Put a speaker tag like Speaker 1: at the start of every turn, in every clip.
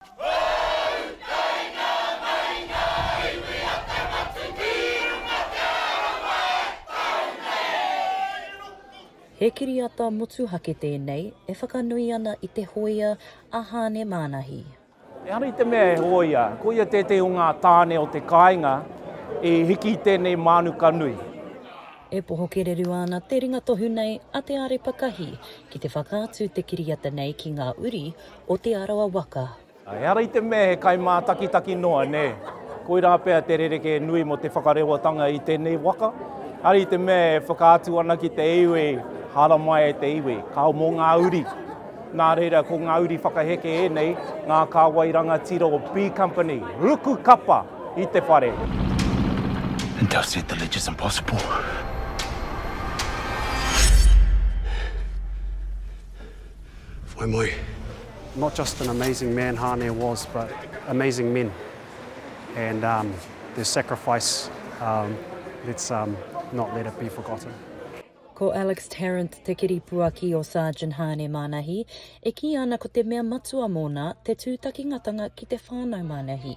Speaker 1: Whou! Kai ngā mahi ngā iwi a Te Whatuki i runga te arawa e tau nei! He kiriata motuhake tēnei e whakanui ana i te hōia a Hāne Mānahi. Ehara i te mea he hōia, koia tētehi o ngā tāne o te kāinga i hiki i tēnei mānuka nui. E poho kererua ana te ringa tohu nei a Te Arepakahi ki te whakaatu te kiriata nei ki ngā uri o Te Arawa waka. Ehara i te mea he kai mātakitaki noa, nē. Koirā pea te rerekē nui mō te whakarewatanga i tēnei waka. Ehara i te mea e whakaatu ana ki te iwi, haramai e te iwi, kao mō ngā uri. Nā reira, ko ngā uri whakaheke ēnei, ngā kāwai rangatira o B Company, ruku kapa i te whare. And thou said the ledger's impossible. Whai mai. Not just an amazing man Hāne was but amazing men and um, their sacrifice um, let's um, not let it be forgotten. Ko Alex Tarrant te kiripuaki o Sargeant Hāne Mānahi, e kī ana ko te mea matua mōna te tūtakingatanga ki te whānau Mānahi.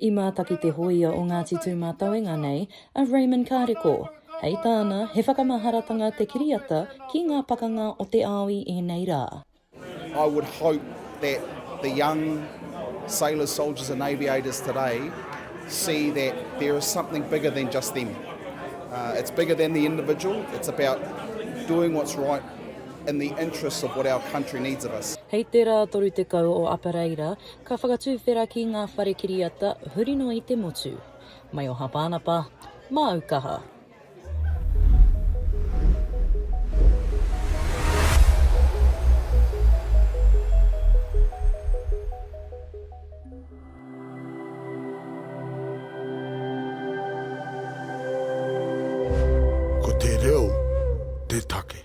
Speaker 1: I mātaki te hōia o Ngāti Tūmātauenga nei, a Raymond Kareko. Hei tāna, he whakamaharatanga te kiriata ki ngā pakanga o te ao i ēnei rā. I would hope that the young sailors, soldiers and aviators today see that there is something bigger than just them. It's bigger than the individual, it's about doing what's right in the interests of what our country needs of us. Hei te rā 30 o Apereira, Ka whakatuwhera ki ngā whare kiriata huri noa i te motu. Mai o Hapānapa, māu kaha. Ko te reo te take.